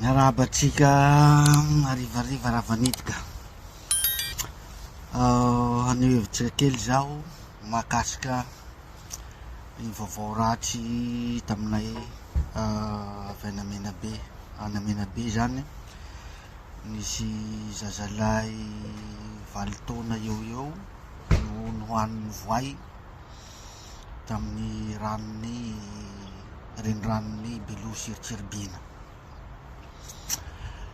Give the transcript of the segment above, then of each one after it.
Miarahaba antsika harivariva Ravanidika. Haneho hevitra kely izaho mahakasika ny vaovao ratsy taminay avy any Menabe. Any Menabe izany nisy zazalahy valo taona eo eo no nohanin'ny voay. tamin'ny ranon'ny reniranon'i Belo sy Cheribina.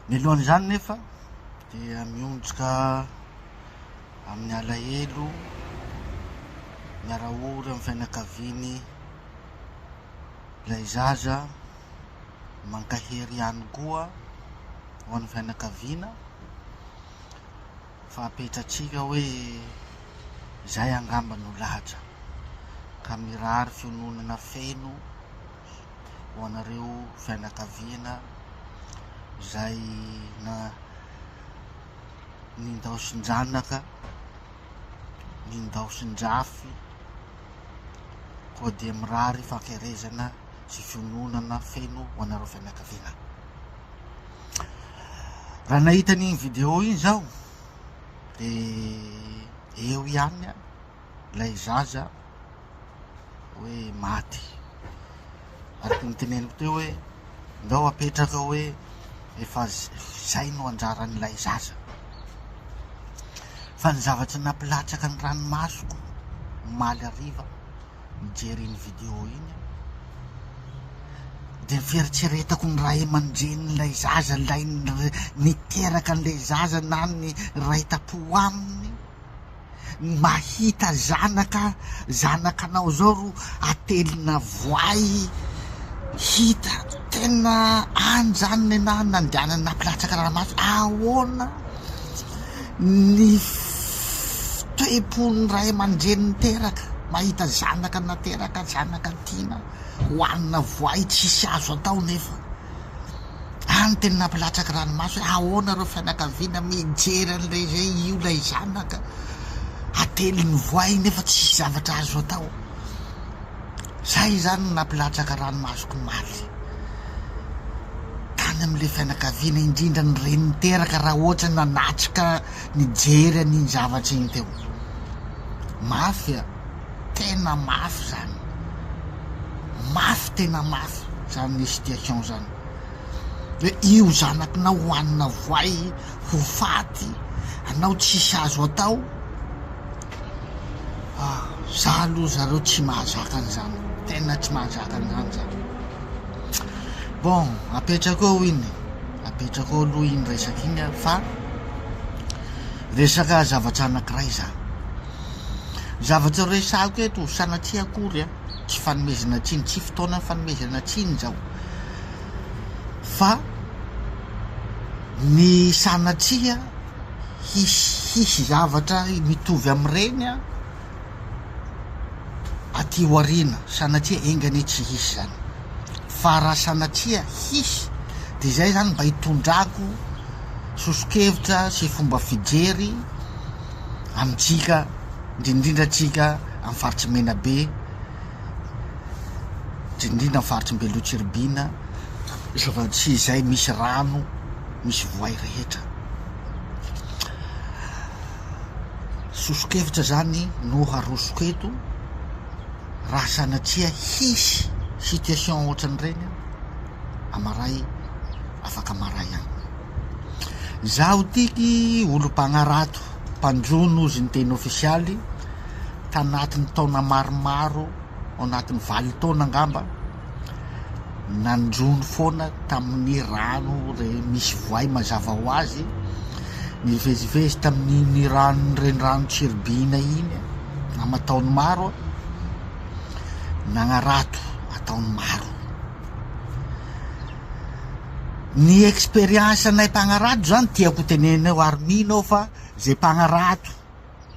Mialohan'izany nefa dia mionjoka amin'ny alahelo miara-ory amin'ny fianakaviany ilay zaza mankahery ihany koa ho an'ny fianakaviana Fa apetratsika hoe izay angamba no lahatra, ka mirary fiononana feno ho anareo fianakaviana izay na nindaosin-janaka, nindaosin-drafy, koa dia mirary fankerezana sy fiononana feno ho anareo fianakaviana. Raha nahita an'iny vidéo iny zaho de eo ihany an lay zaza hoe maty araky ny teneniko teo hoe ndao apetraka hoe efa zay no anjaran'ilay zaza fa ny zavatry nampilatsaka ny ranomasoko omaly hariva Nijery iny vidéo iny aho dia fieritreretako ny ray aman-drenin'ilay zaza, ilay niteraka an'ilay zaza na ny ray tam-po aminy. Mahita zanaka, zanakanao izao ro atelina voay, hita tena any izany ny anà nandehanana nampilahatra karamaso, ahoana? Ny fitoepon'ny ray aman-dreny niteraka, mahita zanaka nateraka, zanaka tiana, hohanina voay, tsisy azo atao nefa. Any teny nampilatsaky ranomaso hoe ahoana ireo fianakaviana mijery an'ilay izay io ilay zanaka atelin'ny voay nefa tsisy zavatra azo atao. Zay izany no nampilatsaka ranomasoko omaly tany amin'ilay fianakaviana, indrindra ny reniny teraka raha ohatrany nanatrika nijery an'iny zavatra iny teo. Mafy a, tena mafy zany. Mafy tena mafy zany ny situation zany. Hoe io zanakinao ho hanina voay, ho faty, anao tsisy azo atao. Ah, za aloha zareo tsy mahazaka an'izany, tena tsy mahazaka an'izany za. Bon, apetrako eo iny e, apetrako eo aloha iny resaka iny an, fa resaka zavatra anankiray zany. Zavatra resahiko eto, sanatria akory an, tsy fanomezana tsiny, tsy fotoana fanomezana tsiny izao, fa ny sanatria. hisy hisy zavatra mitovy amin'ireny aty aoriana, sanatria enga anie tsy hisy izany fa raha sanatria hisy dia izay izany mba hitondrako soso-kevitra sy fomba fijery amintsika indrindrindra antsika amin'ny faritry Menabe. indrindra ny faritry ny Beloha-Tsiribihina sy izay misy rano misy voay rehetra. Soso-kevitra izany no harosoko eto raha sanatria hisy situation ohatran'ireny amaray afaka maray any. Izaho tiky olom-pagnarato mpanjono ozy ny teny ofisialy. Tanatin'ny taona maromaro, ao anatin'ny valo taona angamba, nandroany foana tamin'ny rano re, misy voay mazava ho azy, nivezivezy tamin'iny ranon'ny renirano Tsiribihina iny aman-taony maro aho, nagnarato an-taony maro. Ny expérience-nay mpagnarato zany, tiako ho tenenina eo ary mino aho fa ze mpagnarato,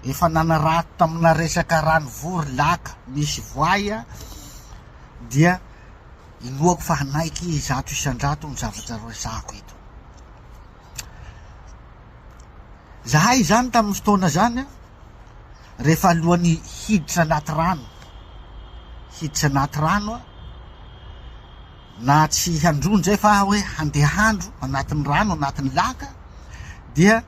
efa nanarato tamina resaka ranovory laka misy voay aho dia inoako fa hanaiky zato isan-drato ny zavatra resahako eto zahay izany tamin'ny fotoana zany a rehefa alohan'ny hiditra anaty rano hiditra anaty rano a na tsy handroa indray fa hoe handeha handro anatin'ny rano anatin'ny laka dia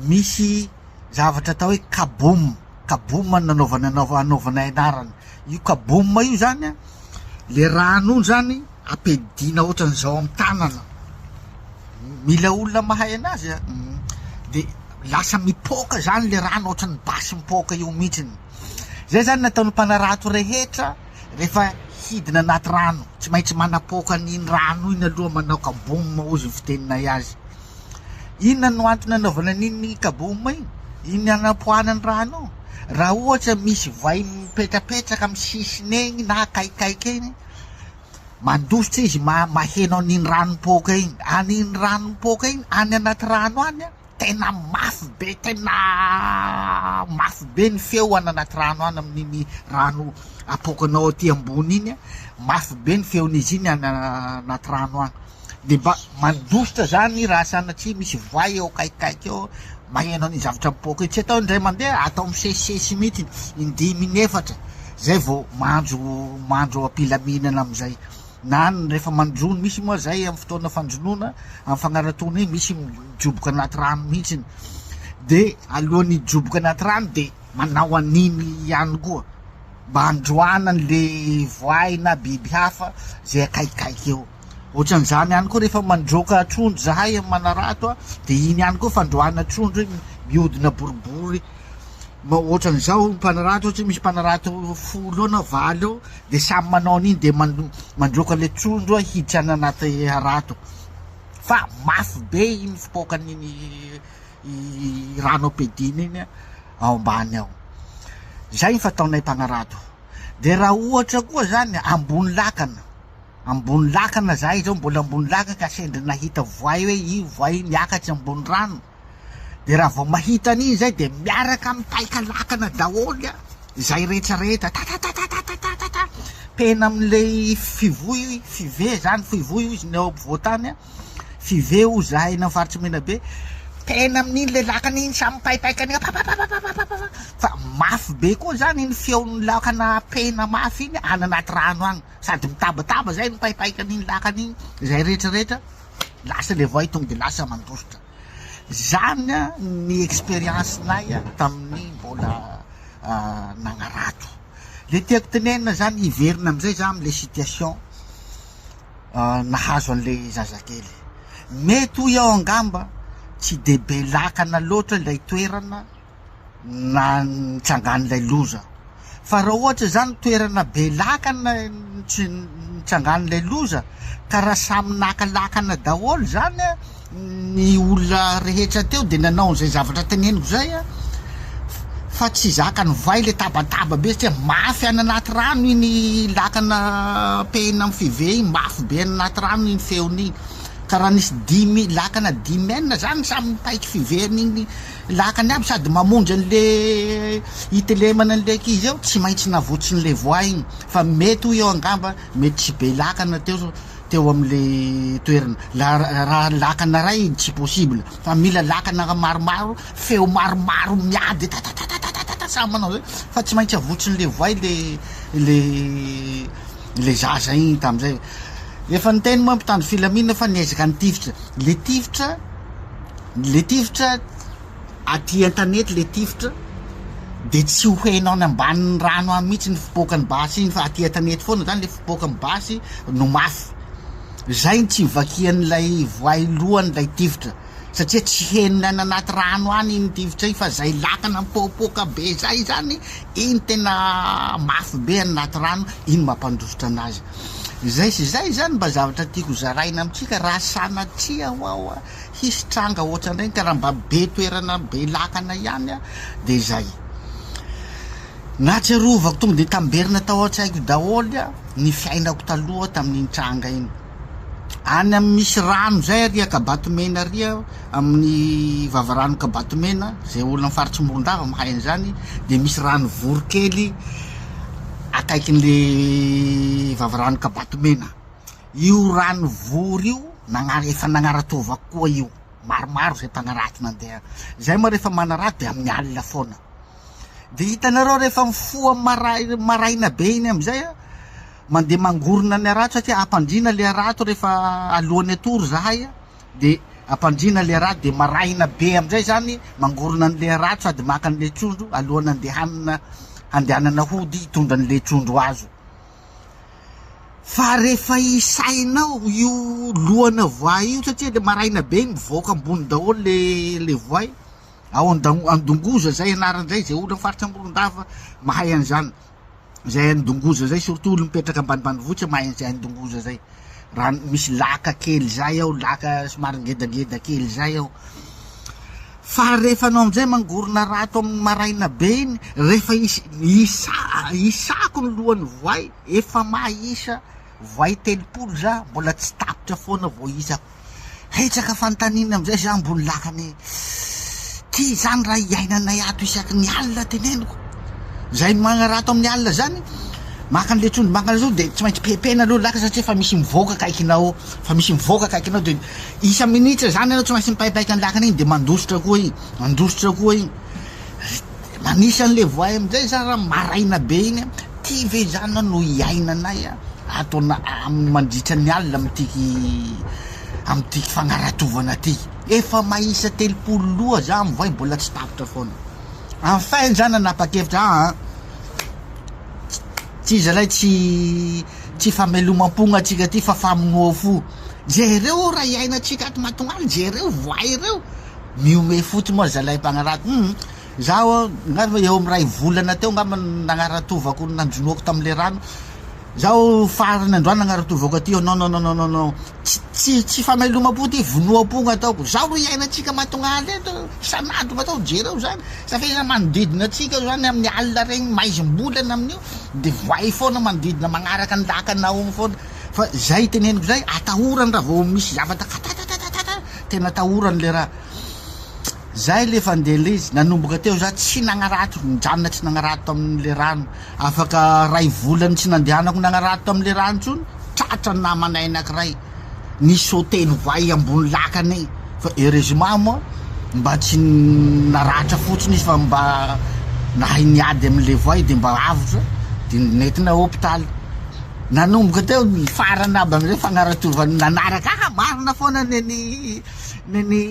misy zavatra atao hoe kaboom kaboom ny nanaovana anaova anaovana anarana io kaboom io zany a le rano io zany ampedina ohatran'izao amin'ny tanana mila olona mahay anazy a de lasa mipoaka zany le rano ohatran'ny basy mipoaka io mihitsiny zay zany nataon'ny mpanarato rehetra Rehefa hidina anaty rano, tsy maintsy manapoaka an'iny rano iny aloha manao kaboom hozy ny fiteninay azy. Inona no antony anaovana an'iny kaboom iny? Iny anapoahana ny rano io. Raha ohatra misy vay mipetrapetraka amin'ny sisiny egny na akaikaiky egny, mandositra izy ma- maheno an'iny rano mipoaka iny. An'iny rano mipoaka iny any anaty rano any an. tena mafy be tena mafy be ny feo any anaty rano any amin'iny rano apoakanao aty ambony iny an, mafy be ny feon'izy iny any anaty rano any de mba mandositra zany raha sanatria misy voay eo akaikikaiky eo maheno an'iny zavatra mipoaka iny, tsy atao indray mandeha atao misesisesy mihitsy indimy inefatra zay vao mandro mandro am-pilaminana am'zay. Na ny rehefa mandroa no misy moa izay amin'ny fotoana fandronoana, amin'ny fagnaratoana iny misy mijoboka anaty rano mihitsiny. Dia alohan'ny hijoboka anaty rano dia manao an'iny ihany koa mba handroahana an'ilay voay na biby hafa izay akaikikaiky eo. Ohatran'izany ihany koa rehefa mandroaka trondro izahay amin'ny manarato a, dia iny ihany koa fandroahana trondro iny, mihodina boribory ma- ohatran'izao mpanarato, ohatra hoe misy mpanarato folo eo na valo eo, Dia samy manao an'iny dia mandroaka an'ilay trondro hiditra any anaty harato fa mafy be iny fipoakan'iny rano ampiadiana iny ao ambany ao. Izay ny fataonay mpanarato. Dia raha ohatra koa izany ambony lakana, ambony lakana izahay izao, mbola ambony lakana ka sendra nahita voay hoe io voay io miakatra ambony rano, de raha vao mahita an'iny izay de miaraka mipaika lakana daholo izay rehetra rehetra tatatatatatatatata pena amin'ilay fivoy five zany fivoy o izy ny ao ampovoantany a five o zahay na faritry mena be pena amin'iny le lakana iny samy mipaipaika ny papapapapapapa fa mafy be koa zany iny feon'ny lakana pena mafy iny any anaty rano agny sady mitabataba zay mipaipaika an'iny lakana iny izay rehetra rehetra lasa le voay tonga de lasa mandositra Izany ny expérience-nay tamin'ny mbola nagnarato. Le tiako tenenina zany, hiverina amizay za amle situation nahazo anle zazakely. Mety hoy aho angamba tsy de be lakana loatra ilay toerana, nitsangan'ilay loza. Fa raha ohatra izany toerana be lakana nitsangan'ilay loza ka raha samy naka lakana daholo izany a ny olona rehetra teo dia nanao an'izay zavatra teneniko izay a fa tsy zaka nivay ilay tabataba be satria mafy any anaty rano iny lakana pehina amin'ny five iny mafy be any anaty rano iny feon'iny ka raha nisy dimy lakana dimy enina izany samy nipaiky five an'iny Lakany aby sady mamonjy an'le itelemana an'le ankizy eo, tsy maintsy navotsin'le voay iny fa mety hoy aho angamba mety tsy be lakana teo teo am'le toerana la raha lakana ray iny tsy possible fa mila lakana maromaro feo maromaro miady tatatatatata samy manao zay fa tsy maintsy avotsin'le voay le le le zaza iny tam'zay efa niteny moa mpitandro filamina fa niezaka nitifitra le tifitra Le tifitra aty an-tanety le tifitra dia tsy ho henao any ambanin'ny rano any mihitsy ny fipoakan'ny basy iny fa aty an-tanety foana izany le fipoakan'ny basy no mafy. Izay no tsy ivakian'ilay voay lohany ilay tifitra satria tsy henony any anaty rano any iny tifitra iny fa izay lakana mipoapoaka be izay izany iny tena mafy be any anaty rano iny mampandositra anazy. Izay sy izay izany mba zavatra tiako zaraina amintsika raha sanatria hoa Hisy tranga ohatran'ireny ka raha mba be toerana be lakana ihany dia izay. Nahatsiarovako tonga dia tamberina tao an-tsaiko daholo ny fiainako taloha tamin'iny tranga iny. Any amin'ny misy rano izay ary Ankabatomena ary amin'ny vavarano Ankabatomena, izay olona amin'ny faritry Morondava mahay an'izany dia misy rano vory kely akaikin'ilay vavarano Ankabatomena. Io Ranovory io nagnara efa nagnaratsova koa io maromaro zay mpagnaratsy nandeha zay moa rehefa manaratsy de amin'ny alina foana de hitanareo rehefa mifoha maray maraina be iny amizay a mandeha mangorona ny harato satria ampandriana le harato rehefa alohan'ny atory zahay a de ampandriana le harato de maraina be amizay zany mangorona an'le harato sady maka an'le trondro alohan'ny andehanana handehanana hody hitondra an'le trondro azo Fa rehefa isainao io lohana voay io satria le maraina be iny mivoaka ambony daholo le le voay ao an-dang- an-dongoza zay anarany zay, ze olo am' faritra Morondava mahay an'zany, zay any Dongoza zay surtout olo mipetraka ambanimbanivohitra mahay an'zay any Dongoza zay, raha misy laka kely zay ao laka somary ngedangeda kely zay ao. Fa rehefa anao amin'izay mangorona ra ato amin'ny maraina be iny, rehefa hisy hisa hisako ny lohan'ny voay, efa mahisa voay telopolo za, mbola tsy tapitra foana vao hisako. Hetsaka fanontaniana amin'izay za ambony lakana e! Ty izany raha iainanay ato isaky ny alina teneniko. Izay magnara ato amin'ny alina izany, maka an'ilay trondro mangana izao dia tsy maintsy pepena aloha ny lakana satria efa misy mivoaka akaikinao, efa misy mivoaka akaikinao dia. Isa minitra zany anao tsy maintsy mipaipaika ny lakana iny de mandositra koa iny mandositra koa iny de manisa anle voay amizay za ra maraina be iny a ty ve zany na no iainanay a ato ana am mandritra ny alina amtiky amtiky fagnaratovana ty efa maisa telopolo loha za mivoay bola tsy tapitra foana enfin za nanapakevitra aa tsy zalay tsy tsy famelomam-pogna atsika ty fa famonoa fo. Jereo o raha iainantsika ato Matognana, jereo voay ireo, mihomehy fotsiny moa zalahy mpagnarato, hum zaho a, angamba eo amin'ny ray volana teo angamba no nagnaratovako, nanjonoako tamin'ilay rano, zaho farany androany nagnaratovako aty, non non non non non, tsy tsy famelomam-po ity, vonoam-po no ataoko, zao no iainantsika Matognana eto, isan'andro no atao, jereo zany, sa fehezany manodidina antsika eo zany amin'ny alina regny, maizim-bolana amin'io de voay foana manodidina magnaraka ny lakan'Nahomy foana. fa zay iteneniko zay atahorany raha vao misy zavatra katatatatata tena atahorany le raha zay le fandeha le izy nanomboka teo za tsy nagnarato nijanona tsy nagnarato tamin'le rano afaka ray volany tsy nandehanako nagnarato tamin'le rano tsony tratra ny namanay anakiray ny soteny vay ambony lakany fa heureusement moa mba tsy naratra fotsiny izy fa mba nahay niady amin'le voay de mba avotra de nentina hôpitaly Nanomboka teo ny farany aby amin'ireo fagnaratovany nanaraka ahy, marina foana ny an'i ny an'i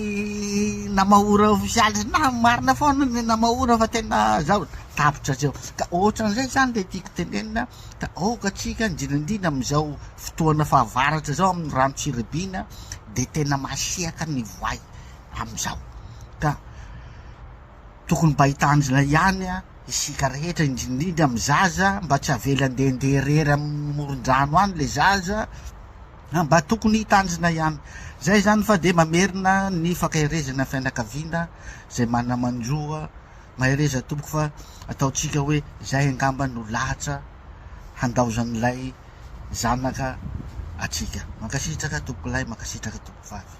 Namahora ofisialy sy nahy, marina foana ny an'i Namahora fa tena zaho tapitra hatreo, ka ohatran'izay izany ilay tiako tenenina, ka aoka tsika indrindraindrindra amin'izao fotoana fahavaratra izao amin'ny rano tsy ribiana dia tena masiaka ny voay amin'izao ka. tokony mba hita tanjona ihany isika rehetra indrindrindra amin'ny zaza mba tsy avela andeha ndeha irery amin'ny moron-drano any le zaza a mba tokony hita tanjona ihany zay zany fa de mamerina ny fankaherezana fianakaviana zay manamanjoa mahereza tompoko fa ataontsika hoe zay angamba no lahatra handaozan'ilay zanaka atsika mankasitraka tompoko lahy mankasitraka tompoko vavy